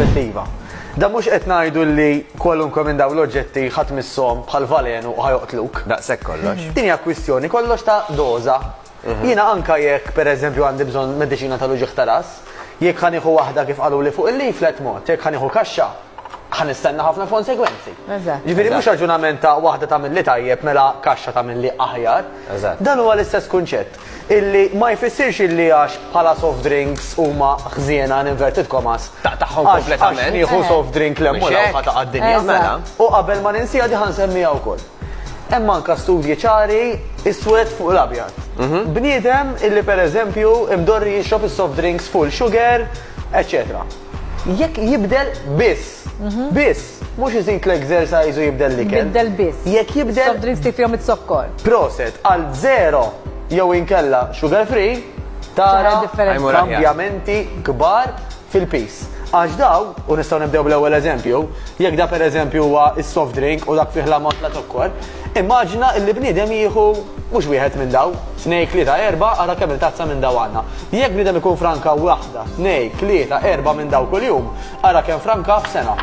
perspettiva. Da mhux qed ngħidu li kwalunkwe minn dawn l-oġġetti ħadd missom bħal valenu u ħajoqtluk. Daqshekk kollox. Din hija kwistjoni kollox ta' doża. Mhm. Jiena anka jekk pereżempju għandi bżonn mediċina tal-uġieħ ta' ras, jekk ħanieħu waħda kif qalu li fuq il-leaflet mod, jekk ħanieħu kaxxa, ħanistenna ħafna konsegwenzi. Ġifieri mhux raġunament ta' waħda tagħmel li tajjeb mela kaxxa tagħmel li aħjar. Dan huwa l-istess kunċett. Illi ma jfissirx illi għax bħala soft drinks huma ħżiena in inverted commas. Taqtagħhom kompletament. Għax nieħu soft drink le mhux hekk. Taqta' d-dinja mela. U qabel ma ninsiha di ħa nsemmiha wkoll. Hemm anke studji ċari iswed fuq l-abjad. Bniedem illi pereżempju mdorri jixrob is-soft drinks full sugar, eċċetera. Jekk jibdel biss, biss, mhux iżid l-exercise u jibdel l-ikel. Jibdel biss. Jekk jibdel. Soft drinks li fihom iz-zokkor. Proset, għal zero jew inkella sugar free, tara kambjamenti kbar fil-piż. Għax dawn, u nistgħu nibdew bl-ewwel eżempju, jekk da pereżempju huwa s-soft drink u dak fih l-ammont ta' zokkor, Immaġina illi bniedem jieħu mhux wieħed minn dawn, tnejn, tlieta, erbgħa, ara kemm-il tazza minn dawn għandna. Jekk bniedem ikun franka waħda, tnejn, tlieta, erbgħa minn dawn kuljum, ara kemm franka f'sena.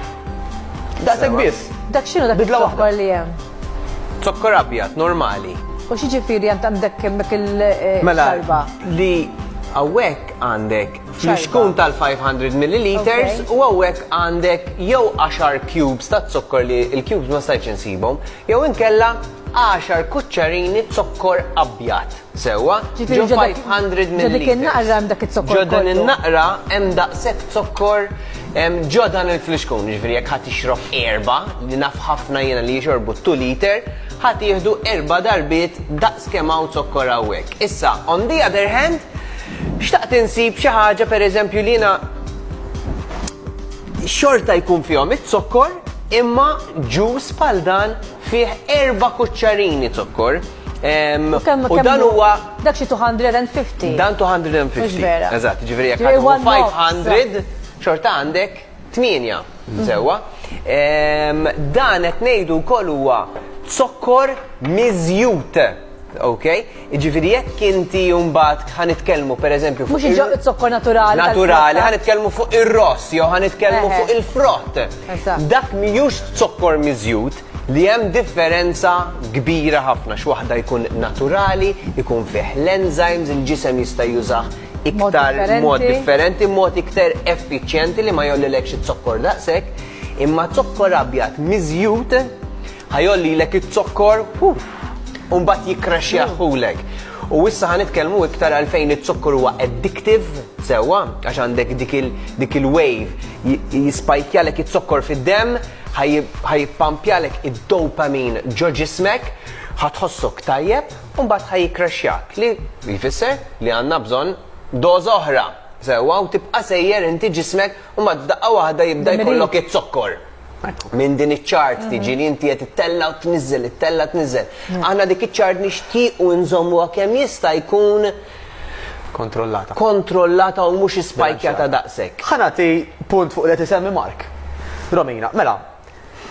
Daqshekk biss. Dak x'inhu dak iż-zokkor li hemm? Zokkor abjad, normali. U x'jiġifieri għandek hemmhekk il-xarba? Mela, li hawnhekk għandek Fl-ixkun tal-500 milliliters u hawnhekk għandek jew 10 cubes ta' zokkor li l-cubes ma stajtx insibhom, jew inkella 10 kuċċarini zokkor abjad. Sewwa? Ġo 500 milliliters. Ġo dik in-naqra hemm dak iz-zokkor. Ġo din in-naqra hemm daqshekk zokkor ġo dan il-flixkun. Jiġifieri jekk ħadd jixrob erba' li naf ħafna jiena li jixorbu 2 liter, ħadd jieħdu erba' darbiet daqs kemm hawn zokkor hawnhekk. Issa, on the other hand, Xtaqt insib xi ħaġa pereżempju li jiena xorta jkun fihom iz-zokkor imma ġuż bħal dan fih erba' kuċċarini zokkor. Ehm, u dan huwa. Dak xi 250. Dan 250. Mhux vera. Eżatt, ġifieri jekk 500 xorta għandek Tmienja, sewwa. Dan qed ngħidu wkoll huwa zokkor miżjud, okej? Jiġifieri jekk inti mbagħad ħa nitkellmu pereżempju fuq. Mhux iġ-ġo, iż-zokkor naturali. Naturali, ħa nitkellmu fuq ir-ross jew ħa nitkellmu fuq il-frott. Dak mhijiex zokkor miżjud li hemm differenza kbira ħafna x'waħda jkun naturali, ikun fih l-enzymes, il-ġisem jista' jużah. iktar mod differenti, mod iktar effiċjenti li ma jollilekx it-zokkor daqshekk, imma zokkor abjad miżjut ħajolli l it-zokkor u mbagħad jikkraxjaħulek. U issa ħan nitkellmu iktar għalfejn it-zokkor huwa addictive sewwa għax għandek dik il-wave jispajkjalek it-zokkor fid-demm ħajpampjalek id-dopamin ġo ġismek ħatħossok tajjeb u mbagħad ħa jikkraxxjak, li jfisser li għandna bżonn doża oħra, sewwa, u tibqa' sejjer inti ġismek u mbagħad f'daqqa waħda jibda jkollok iz-zokkor. Minn din iċ-ċart tiġi li inti qed ittella' u tniżżel, ittella' tniżżel. Aħna dik iċ-ċart nixtiequ nżommuha kemm jista' jkun Kontrollata. kontrollata u mhux ispajkjata daqshekk. Ħa nagħti punt fuq li qed isemmi Mark. Romina, mela,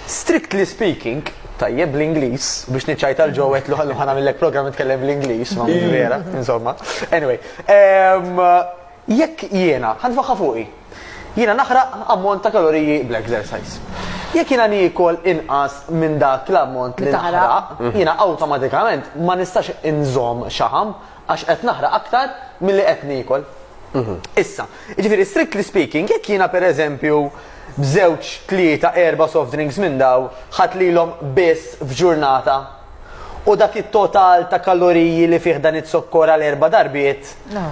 Strictly speaking, tajjeb l-Ingliż, biex niċċajta l-ġo għetlu ħallu ħana millek program nitkellem bl-Ingliż, ma mhux vera, insomma. Anyway, ehm, jekk jiena, ħanfaħħa fuqi, jiena naħraq ammont ta' kaloriji bl-exercise. Jekk jiena nikol inqas minn dak l-ammont li naħraq, jiena awtomatikament ma nistax inżomm xaħam Għax qed naħraq aktar milli qed niekol. Issa, jiġifieri strictly speaking, jekk jiena pereżempju b'żewġ, tlieta, erba' soft drinks minn dawn ħadt lilhom biss f'ġurnata, u dak it-total ta' kaloriji li fih dan it-zokkor għal erba' darbiet,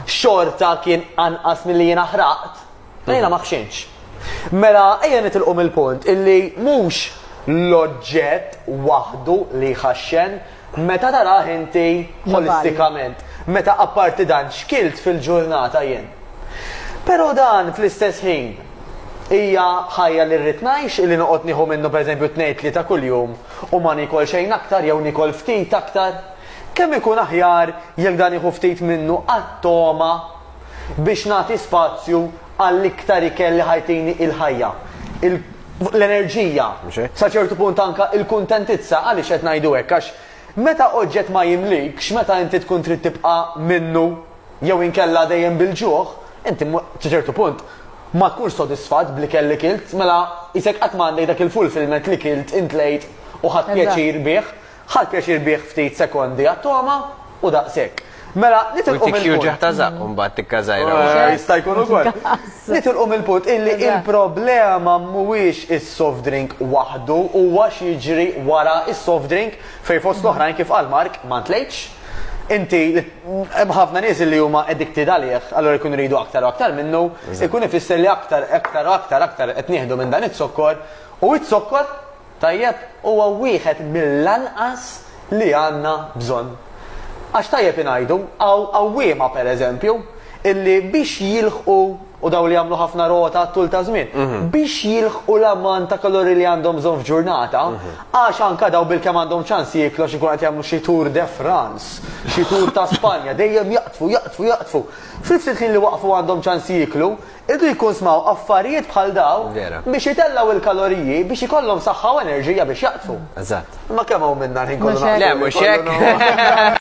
xorta kien anqas milli jiena ħraqt. Jiena ma ħxinx. Mela ejja nitilqu mill-punt illi mhux l-oġġett waħdu li jħaxxen meta tarah inti ħolistikament. Meta apparti dan x'kilt fil-ġurnata jien. Però dan fl-istess ħin hija ħajja li rrid ngħix illi noqgħod nieħu minnu pereżempju tnejn tlieta kuljum u ma niekol xejn aktar jew niekol ftit aktar? Kemm ikun aħjar jekk dan nieħu ftit minnu għat-togħma biex nagħti spazju għall-iktar ikel li ħa jtini il-ħajja, l-enerġija, sa ċertu punt anke l-kuntentizza. Għaliex qed ngħidu hekk? Għax meta oġġett ma jimlikx, meta inti tkun trid tibqa' minnu jew inkella dejjem bil-ġuħ, inti sa ċertu punt ma tkunx sodisfatt bl-ikel li kilt, mela qisek qatt ma għandek dak il-fulfillment li kilt, intlejt u ħadt pjaċir bih. Ħa pjaċir bih ftit sekondi għat-togħma u daqshekk. Mela, nitilqu mill-punt. U jtik jirġa' ħta żaqq u mbagħad tikka żgħira wara. Jista' jkun ukoll. Nitilqu mill-punt illi il-problema mhuwiex is-soft drink waħdu, huwa x'jiġri wara s-soft drink fejn fost l-oħrajn kif qal Mark, ma ntlejtx. Inti, hemm ħafna nies illi huma addicted għalih, allura jkunu jridu aktar u aktar minnu, ikun ifisser li aktar, aktar u aktar, aktar qed nieħdu minn dan iz-zokkor u iz-zokkor, Tajjeb huwa wieħed mill-anqas li għandna bżonn. Għax tajjeb ingħidu, hawn għawwiema, per eżempju, illi biex jilħqu, u dawn li jagħmlu ħafna rota għat-tul ta' żmien, biex jilħqu l-ammont ta' kaloriji li għandhom bżonn f'ġurnata, għax anke dawn bilkemm għandhom ċans jieklu għax ikunu qed jagħmlu xi Tour de France, xi Tour ta' Spanja, dejjem jaqdfu, jaqdfu, jaqdfu. Fl-istess ħin li waqfu għandhom ċans jieklu, Iridu jikkunsmaw affarijiet bħal dawn biex jitellgħu l-kaloriji biex ikollhom saħħa u enerġija biex jaqdfu. Imma kemm hawn minna l-ħin kollu naqdfu. Le mhux hekk.